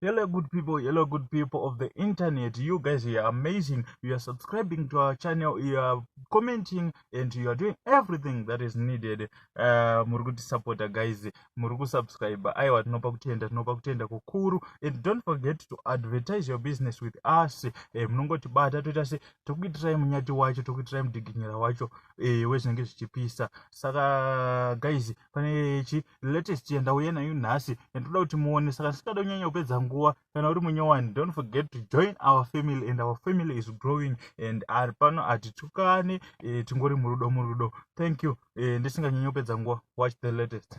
Hello good people, hello good people of the internet. You guys are amazing. You are subscribing to our channel, you are commenting and you are doing everything that is needed. Uh, muri kuti supporter guys, muri ku subscribe. Aiwa tinopa kutenda, tinopa kutenda kukuru. And don't forget to advertise your business with us. Eh, munongoti bata toita se tokuitirai munyati wacho, tokuitirai mudiginyira wacho. Eh, wezvinenge zvichipisa. Saka guys, pane chi latest yandauya nayo nhasi yandoda kuti muone saka ndisingada kunyanya kupedza nguva kana uri munyowani don't forget to join our family and our family is growing and ari pano hatitukane e, tingori murudo murudo thank you e, ndisinganyanya kupedza nguva watch the latest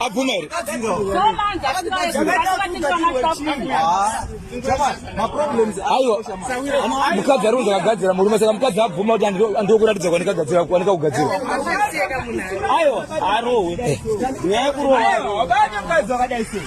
abvuma here aiwa mukadzi ari kunzi akagadzira murume saka mukadzi abvuma kuti andiokuratidza kwanikagadzira kwanika kugadzira aiwa arohwe nyaya yekurohwa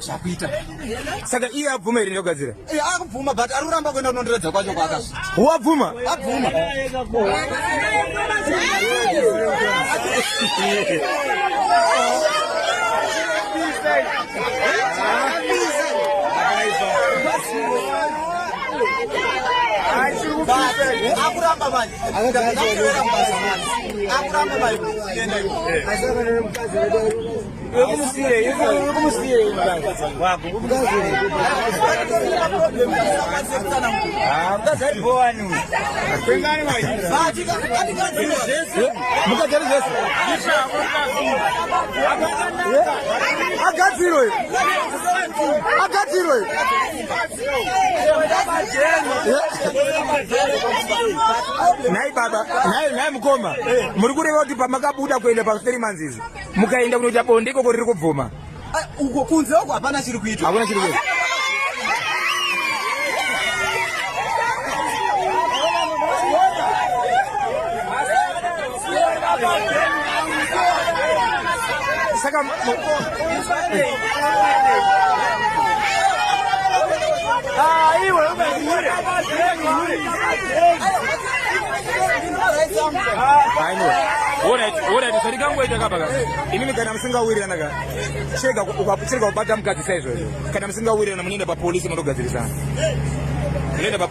zvakuita saka iye abvuma here ndogadzira eh, akubvuma but ari kuramba kuenda kunondiredza kwacho kwaka wabvuma abvuma akuramba manje akuramba manje agadzirwe agadzirwe nhai baba nhai mukoma muri kureva kuti pamakabuda kuenda pa three months izvi mukaenda kunoita bonde ikoko riri kubvuma ah, uko kunze uko hapana chiri kuitwa hakuna chiri kuitwa saka ah, iwe zvatingangoita kapaka inini kana musingawirirana ka chega kubata mukadzi saizvozvo kana musingawirirana munoenda papolisi motogadzirisana munoenda